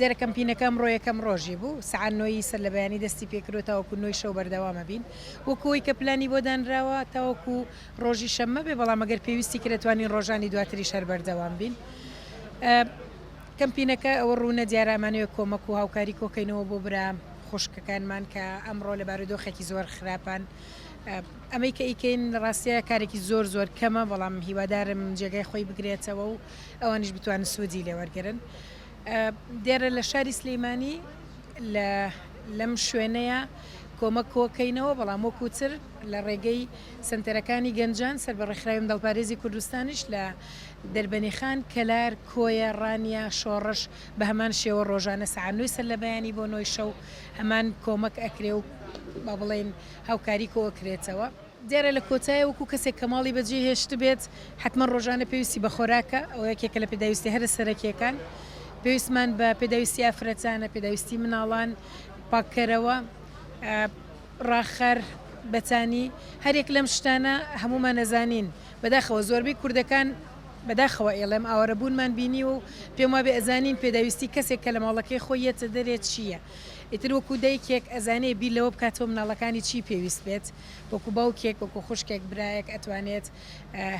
دیارە کەمپینەکە ئەمڕۆ یەکەم ڕۆژی بوو، سەعات نۆ ی سەر لە بەیانی دەستی پێ کردو تاوەکو نۆ ی شەو بەردەوام ئەبین، وەکو ئەوەی کە پلانی بۆ دانراوە تاوەکو ڕۆژی شەممە بێ، بەڵام ئەگەر پێویستی کرد ئەتوانین ڕۆژانی دواتریش هەر بەردەوام بین. کەمپینەکە ئەوە ڕوونە دیارە ئەمانەوێ کۆمەک و هاوکاری کۆ کەینەوە بۆ برا خوشکەکانمان کە ئەمڕۆ لە بارودۆخێکی زۆر خراپن، ئەمەی کە ئیکەین لە ڕاستیا کارێکی زۆر زۆر کەمە بەڵام هیوادارم جێگای خۆی بگرێتەوە و ئەوانیش بتوانن سوودی لێ وەرگرن دێرە لە شاری سلیمانی لە لەم شوێنەیە کۆمە کۆکەینەوە بەڵام وەکوتر لە ڕێگەی سنتەرەکانی گەنجان سەر بە ڕێکخراوی دڵپارێزی کوردستانیش لە دەربەنیخان کەلار کۆیە ڕانیا شۆڕش بە هەمان شێوە ڕۆژانە سەعانوی سەر لە بەیانی بۆ نۆی شەو هەمان کۆمەک ئەکرێ و با بڵێن هاوکاری کۆ ئەکرێتەوە. دیارە لە کۆتایە وەکو کەسێک کە ماڵی بەجێ هێشتبێت حەتمەن ڕۆژانە پێویستی بە خۆراکە، ئەوە یەکێکە لە پێداویستیە هەرە سەرەکیەکان، پێویستمان بە پێداویستی ئافرەتانە، پێداویستی مناڵان، پاککەرەوە، ڕاخەر، بەتانی، هەریەک لەم شتانە هەموومان ئەزانین، بەداخەوە زۆربەی کوردەکان بەداخەوە ئەیڵێم ئاوارەبوونمان بینیوە و پێم وابێ ئەزانین پێداویستی کەسێک کە لە ماڵەکەی خۆی یەتە دەرێ چیە، ئیتر وەکو دایکێک ئەزانێ بیر لەوە بکاتەوە مناڵەکانی چی پێویست بێت، وەکو باوکێک وەکو خوشکێک برایەک ئەتوانێت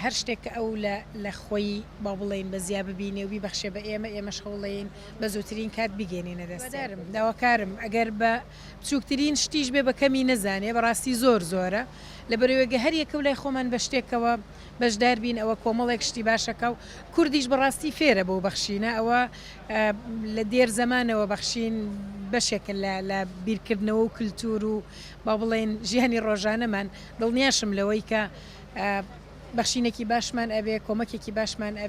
هەر شتێک کە ئەو لە لە خۆی با بڵێین بە زیا ببینێ و بیبەخشێ بە ئێمە ئێمەش هەوڵەیەین بە زووترین کات بیگەینینە دەستێ. هیوادارم داواکارم ئەگەر بە بچووکترین شتیش بێ بە کەمی نەزانێ بەڕاستی زۆر زۆرە لەبەرئەوەی گە هەر یەکەو لای خۆمان بە شتێکەوە بەشدار بین ئەوە کۆمەڵێک شتی باشەکە و کوردیش بەڕاستی فێرە بەو بەخشینە ئەوە لە دێر زەمانەوە بەخشین بەشێکە لە لە بیرکردنەوە و کلتور و با بڵێین ژیانی ڕۆژانەمان دڵنیاشم لەوەی کە بەخشینێکی باشمان ئەبێ کۆمەکێکی باشمان ئەبێ.